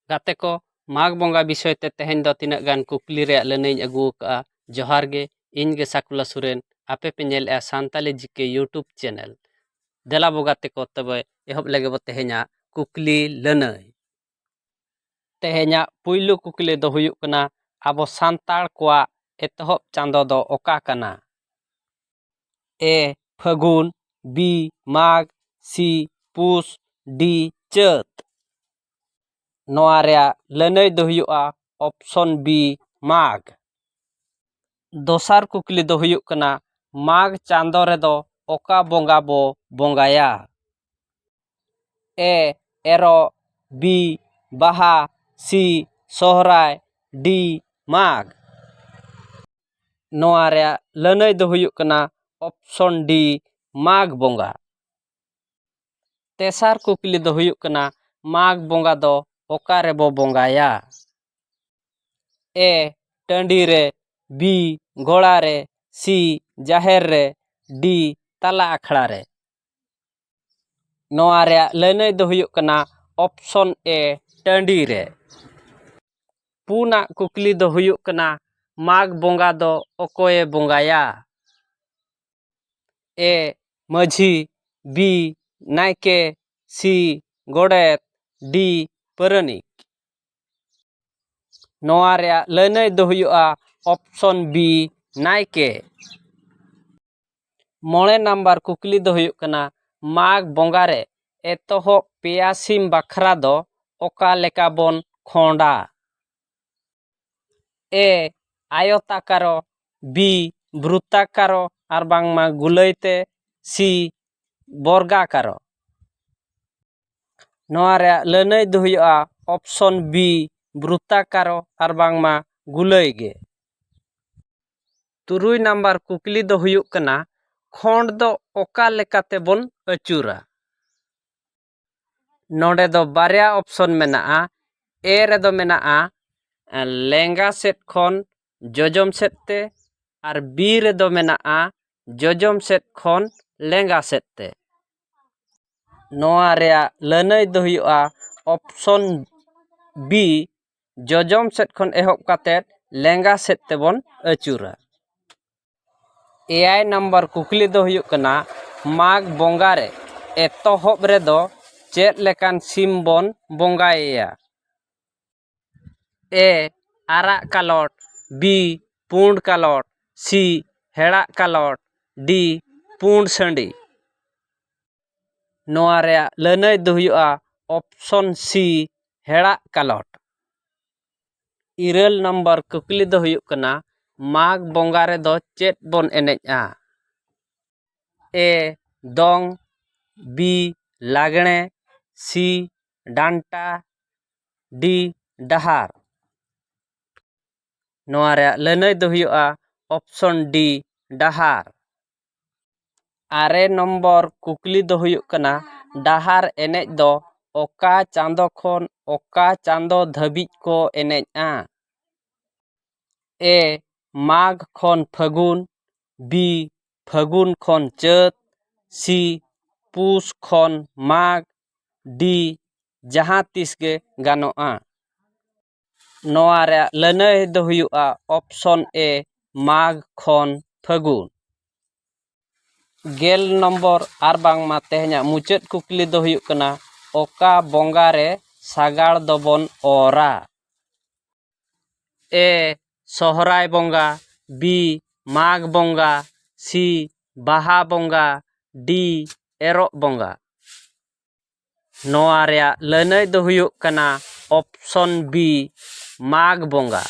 ᱜᱟᱛᱮ ᱠᱚ ᱢᱟᱜᱽ ᱵᱚᱸᱜᱟ ᱵᱤᱥᱚᱭ ᱛᱮ ᱛᱮᱦᱮᱧ ᱫᱚ ᱛᱤᱱᱟᱹᱜ ᱜᱟᱱ ᱠᱩᱠᱞᱤ ᱨᱮᱭᱟᱜ ᱞᱟᱹᱱᱟᱹᱭᱤᱧ ᱟᱹᱜᱩ ᱟᱠᱟᱫᱼᱟ ᱡᱚᱦᱟᱨ ᱜᱮ ᱤᱧ ᱜᱮ ᱥᱟᱠᱩᱞᱟ ᱥᱚᱨᱮᱱ ᱟᱯᱮ ᱯᱮ ᱧᱮᱞᱮᱫᱼᱟ ᱥᱟᱱᱛᱟᱞᱤ ᱡᱤ ᱠᱮ ᱤᱭᱩᱴᱩᱵᱽ ᱪᱮᱱᱮᱞ ᱫᱮᱞᱟ ᱵᱚ ᱜᱟᱛᱮ ᱠᱚ ᱛᱚᱵᱮ ᱮᱦᱚᱵ ᱞᱮᱜᱮ ᱵᱚ ᱛᱮᱦᱮᱧᱟᱜ ᱠᱩᱠᱞᱤ ᱞᱟᱹᱱᱟᱹᱭ ᱛᱮᱦᱮᱧᱟᱜ ᱯᱩᱭᱞᱩ ᱠᱩᱠᱞᱤ ᱫᱚ ᱦᱩᱭᱩᱜ ᱠᱟᱱᱟ ᱟᱵᱚ ᱥᱟᱱᱛᱟᱲ ᱠᱚᱣᱟᱜ ᱮᱛᱚᱦᱚᱵ ᱪᱟᱸᱫᱚ ᱫᱚ ᱚᱠᱟ ᱠᱟᱱᱟ ᱮ ᱯᱷᱟᱹᱜᱩᱱ ᱵᱤ ᱢᱟᱜᱽ ᱥᱤ ᱯᱩᱥ ᱰᱤ ᱪᱟᱹᱛ ᱱᱚᱣᱟ ᱨᱮᱭᱟᱜ ᱞᱟᱹᱱᱟᱹᱭ ᱫᱚ ᱦᱩᱭᱩᱜᱼᱟ ᱚᱯᱥᱚᱱ ᱵᱤ ᱢᱟᱜᱽ ᱫᱚᱥᱟᱨ ᱠᱩᱠᱞᱤ ᱫᱚ ᱦᱩᱭᱩᱜ ᱠᱟᱱᱟ ᱢᱟᱜᱽ ᱪᱟᱸᱫᱚ ᱨᱮᱫᱚ ᱚᱠᱟ ᱵᱚᱸᱜᱟ ᱵᱚ ᱵᱚᱸᱜᱟᱭᱟ ᱮ ᱮᱨᱚᱜ ᱵᱤ ᱵᱟᱦᱟ ᱥᱤ ᱥᱚᱦᱨᱟᱭ ᱰᱤ ᱢᱟᱜᱽ ᱱᱚᱣᱟ ᱨᱮᱭᱟᱜ ᱞᱟᱹᱱᱟᱹᱭ ᱫᱚ ᱦᱩᱭᱩᱜ ᱠᱟᱱᱟ ᱚᱯᱷᱥᱚᱱ ᱰᱤ ᱢᱟᱜᱽ ᱵᱚᱸᱜᱟ ᱛᱮᱥᱟᱨ ᱠᱩᱠᱞᱤ ᱫᱚ ᱦᱩᱭᱩᱜ ᱠᱟᱱᱟ ᱢᱟᱜᱽ ᱵᱚᱸᱜᱟ ᱫᱚ ᱚᱠᱟ ᱨᱮᱵᱚ ᱵᱚᱸᱜᱟᱭᱟ ᱮ ᱴᱟᱺᱰᱤ ᱨᱮ ᱵᱤ ᱜᱚᱲᱟ ᱨᱮ ᱥᱤ ᱡᱟᱦᱮᱨ ᱨᱮ ᱰᱤ ᱛᱟᱞᱟ ᱟᱠᱷᱲᱟ ᱨᱮ ᱱᱚᱣᱟ ᱨᱮᱭᱟᱜ ᱞᱟᱹᱱᱟᱹᱭ ᱫᱚ ᱦᱩᱭᱩᱜ ᱠᱟᱱᱟ ᱚᱯᱷᱥᱚᱱ ᱮ ᱴᱟᱺᱰᱤ ᱨᱮ ᱯᱩᱱᱟᱜ ᱠᱩᱠᱞᱤ ᱫᱚ ᱦᱩᱭᱩᱜ ᱠᱟᱱᱟ ᱢᱟᱜᱽ ᱵᱚᱸᱜᱟ ᱫᱚ ᱚᱠᱚᱭᱮ ᱵᱚᱸᱜᱟᱭᱟ ᱮ ᱢᱟᱹᱡᱷᱤ ᱵᱤ ᱱᱟᱭᱠᱮ ᱥᱤ ᱜᱚᱰᱮᱛ ᱰᱤ ᱯᱟᱹᱨᱟᱹᱱᱤᱠ ᱱᱚᱣᱟ ᱨᱮᱭᱟᱜ ᱞᱟᱹᱱᱟᱹᱭ ᱫᱚ ᱦᱩᱭᱩᱜᱼᱟ ᱚᱯᱥᱚᱱ ᱵᱤ ᱱᱟᱭᱠᱮ ᱢᱚᱬᱮ ᱱᱟᱢᱵᱟᱨ ᱠᱩᱠᱞᱤ ᱫᱚ ᱦᱩᱭᱩᱜ ᱠᱟᱱᱟ ᱢᱟᱜᱽ ᱵᱚᱸᱜᱟ ᱨᱮ ᱮᱛᱚᱦᱚᱵ ᱯᱮᱭᱟ ᱥᱤᱢ ᱵᱟᱠᱷᱨᱟ ᱫᱚ ᱚᱠᱟ ᱞᱮᱠᱟ ᱵᱚᱱ ᱠᱷᱚᱸᱰᱟ ᱮ ᱟᱭᱚᱛᱟᱠᱟᱨᱚ ᱵᱤ ᱵᱨᱩᱛᱟᱠᱟᱨᱚ ᱟᱨ ᱵᱟᱝᱢᱟ ᱜᱩᱞᱟᱹᱭ ᱛᱮ ᱥᱤ ᱵᱚᱨᱜᱟᱠᱟᱨᱚ ᱱᱚᱣᱟ ᱨᱮᱭᱟᱜ ᱞᱟᱹᱱᱟᱹᱭ ᱫᱚ ᱦᱩᱭᱩᱜᱼᱟ ᱚᱯᱷᱥᱚᱱ ᱵᱤ ᱵᱨᱩᱛᱟᱠᱟᱨᱚ ᱟᱨ ᱵᱟᱝᱢᱟ ᱜᱩᱞᱟᱹᱭ ᱜᱮ ᱛᱩᱨᱩᱭ ᱱᱟᱢᱵᱟᱨ ᱠᱩᱠᱞᱤ ᱫᱚ ᱦᱩᱭᱩᱜ ᱠᱟᱱᱟ ᱠᱷᱚᱸᱰ ᱫᱚ ᱚᱠᱟ ᱞᱮᱠᱟᱛᱮ ᱵᱚᱱ ᱟᱹᱪᱩᱨᱟ ᱱᱚᱰᱮ ᱫᱚ ᱵᱟᱨᱭᱟ ᱚᱯᱷᱥᱚᱱ ᱢᱮᱱᱟᱜᱼᱟ ᱮ ᱨᱮᱫᱚ ᱢᱮᱱᱟᱜᱼᱟ ᱞᱮᱸᱜᱟ ᱥᱮᱫ ᱠᱷᱚᱱ ᱡᱚᱡᱚᱢ ᱥᱮᱫ ᱛᱮ ᱟᱨ ᱵᱤ ᱨᱮᱫᱚ ᱢᱮᱱᱟᱜᱼᱟ ᱡᱚᱡᱚᱢ ᱥᱮᱫ ᱠᱷᱚᱱ ᱞᱮᱸᱜᱟ ᱥᱮᱫ ᱛᱮ ᱱᱚᱣᱟ ᱨᱮᱭᱟᱜ ᱞᱟᱹᱱᱟᱹᱭ ᱫᱚ ᱦᱩᱭᱩᱜᱼᱟ ᱚᱯᱷᱥᱚᱱ ᱵᱤ ᱡᱚᱡᱚᱢ ᱥᱮᱫ ᱠᱷᱚᱱ ᱮᱦᱚᱵ ᱠᱟᱛᱮ ᱞᱮᱸᱜᱟ ᱥᱮᱫ ᱛᱮᱵᱚᱱ ᱟᱹᱪᱩᱨᱟ ᱮᱭᱟᱭ ᱱᱟᱢᱵᱟᱨ ᱠᱩᱠᱞᱤ ᱫᱚ ᱦᱩᱭᱩᱜ ᱠᱟᱱᱟ ᱢᱟᱜᱽ ᱵᱚᱸᱜᱟ ᱨᱮ ᱮᱛᱚᱦᱚᱵ ᱨᱮᱫᱚ ᱪᱮᱫ ᱞᱮᱠᱟᱱ ᱥᱤᱢ ᱵᱚᱱ ᱵᱚᱸᱜᱟᱭᱮᱭᱟ ᱮ ᱟᱨᱟᱜ ᱠᱟᱞᱚᱴ ᱵᱤ ᱯᱩᱸᱰ ᱠᱟᱞᱚᱴ ᱥᱤ ᱦᱮᱲᱟᱜ ᱠᱟᱞᱚᱴ ᱰᱤ ᱯᱩᱸᱰ ᱥᱟᱺᱰᱤ ᱱᱚᱣᱟ ᱨᱮᱭᱟᱜ ᱞᱟᱹᱱᱟᱹᱭ ᱫᱚ ᱦᱩᱭᱩᱜᱼᱟ ᱚᱯᱷᱥᱚᱱ ᱥᱤ ᱦᱮᱲᱟᱜ ᱠᱟᱞᱚᱴ ᱤᱨᱟᱹᱞ ᱱᱚᱢᱵᱚᱨ ᱠᱩᱠᱞᱤ ᱫᱚ ᱦᱩᱭᱩᱜ ᱠᱟᱱᱟ ᱢᱟᱜᱽ ᱵᱚᱸᱜᱟ ᱨᱮᱫᱚ ᱪᱮᱫ ᱵᱚᱱ ᱮᱱᱮᱡᱼᱟ ᱮ ᱫᱚᱝ ᱵᱤ ᱞᱟᱜᱽᱬᱮ ᱥᱤ ᱰᱟᱱᱴᱟ ᱰᱤ ᱰᱟᱦᱟᱨ ᱱᱚᱣᱟ ᱨᱮᱭᱟᱜ ᱞᱟᱹᱱᱟᱹᱭ ᱫᱚ ᱦᱩᱭᱩᱜᱼᱟ ᱚᱯᱥᱚᱱ ᱰᱤ ᱰᱟᱦᱟᱨ ᱟᱨᱮ ᱱᱚᱢᱵᱚᱨ ᱠᱩᱠᱞᱤ ᱫᱚ ᱦᱩᱭᱩᱜ ᱠᱟᱱᱟ ᱰᱟᱦᱟᱨ ᱮᱱᱮᱡ ᱫᱚ ᱚᱠᱟ ᱪᱟᱸᱫᱚ ᱠᱷᱚᱱ ᱚᱠᱟ ᱪᱟᱸᱫᱚ ᱫᱷᱟᱹᱵᱤᱡ ᱠᱚ ᱮᱱᱮᱡᱼᱟ ᱮ ᱢᱟᱜᱽ ᱠᱷᱚᱱ ᱯᱷᱟᱹᱜᱩᱱ ᱵᱤ ᱯᱷᱟᱹᱜᱩᱱ ᱠᱷᱚᱱ ᱪᱟᱹᱛ ᱥᱤ ᱯᱩᱥ ᱠᱷᱚᱱ ᱢᱟᱜᱽ ᱰᱤ ᱡᱟᱦᱟᱸ ᱛᱤᱥ ᱜᱮ ᱜᱟᱱᱚᱜᱼᱟ ᱱᱚᱣᱟ ᱨᱮᱭᱟᱜ ᱞᱟᱹᱱᱟᱹᱭ ᱫᱚ ᱦᱩᱭᱩᱜᱼᱟ ᱚᱯᱥᱚᱱ ᱮ ᱢᱟᱜᱽ ᱠᱷᱚᱱ ᱯᱷᱟᱹᱜᱩᱱ ᱜᱮᱞ ᱱᱚᱢᱵᱚᱨ ᱟᱨ ᱵᱟᱝᱢᱟ ᱛᱮᱦᱮᱧᱟᱜ ᱢᱩᱪᱟᱹᱫ ᱠᱩᱠᱞᱤ ᱫᱚ ᱦᱩᱭᱩᱜ ᱠᱟᱱᱟ ᱚᱠᱟ ᱵᱚᱸᱜᱟ ᱨᱮ ᱥᱟᱜᱟᱲ ᱫᱚᱵᱚᱱ ᱚᱨᱟ ᱮ ᱥᱚᱦᱚᱨᱟᱭ ᱵᱚᱸᱜᱟ ᱵᱤ ᱢᱟᱜᱽ ᱵᱚᱸᱜᱟ ᱥᱤ ᱵᱟᱦᱟ ᱵᱚᱸᱜᱟ ᱰᱤ ᱮᱨᱚᱜ ᱵᱚᱸᱜᱟ ᱱᱚᱣᱟ ᱨᱮᱭᱟᱜ ᱞᱟᱹᱱᱟᱹᱭ ᱫᱚ ᱦᱩᱭᱩᱜ ᱠᱟᱱᱟ ᱚᱯᱥᱚᱱ ᱵᱤ ᱢᱟᱜᱽ ᱵᱚᱸᱜᱟ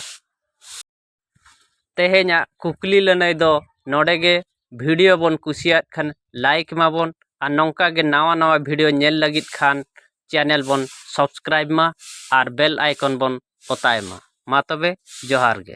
ᱛᱮᱦᱮᱧᱟᱜ ᱠᱩᱠᱞᱤ ᱞᱟᱹᱱᱟᱹᱭ ᱫᱚ ᱱᱚᱰᱮ ᱜᱮ ᱵᱷᱤᱰᱤᱭᱳ ᱵᱚᱱ ᱠᱩᱥᱤᱭᱟᱜ ᱠᱷᱟᱱ ᱞᱟᱭᱤᱠ ᱢᱟᱵᱚᱱ ᱟᱨ ᱱᱚᱝᱠᱟ ᱜᱮ ᱱᱟᱣᱟ ᱱᱟᱣᱟ ᱵᱷᱤᱰᱤᱭᱳ ᱧᱮᱞ ᱞᱟᱹᱜᱤᱫ ᱠᱷᱟᱱ ᱪᱮᱱᱮᱞ ᱵᱚᱱ ᱥᱟᱵᱥᱠᱨᱟᱭᱤᱵᱽ ᱢᱟ ᱟᱨ ᱵᱮᱞ ᱟᱭᱠᱚᱱ ᱵᱚᱱ ᱚᱛᱟᱭ ᱢᱟ ᱢᱟ ᱛᱚᱵᱮ ᱡᱚᱦᱟᱨ ᱜᱮ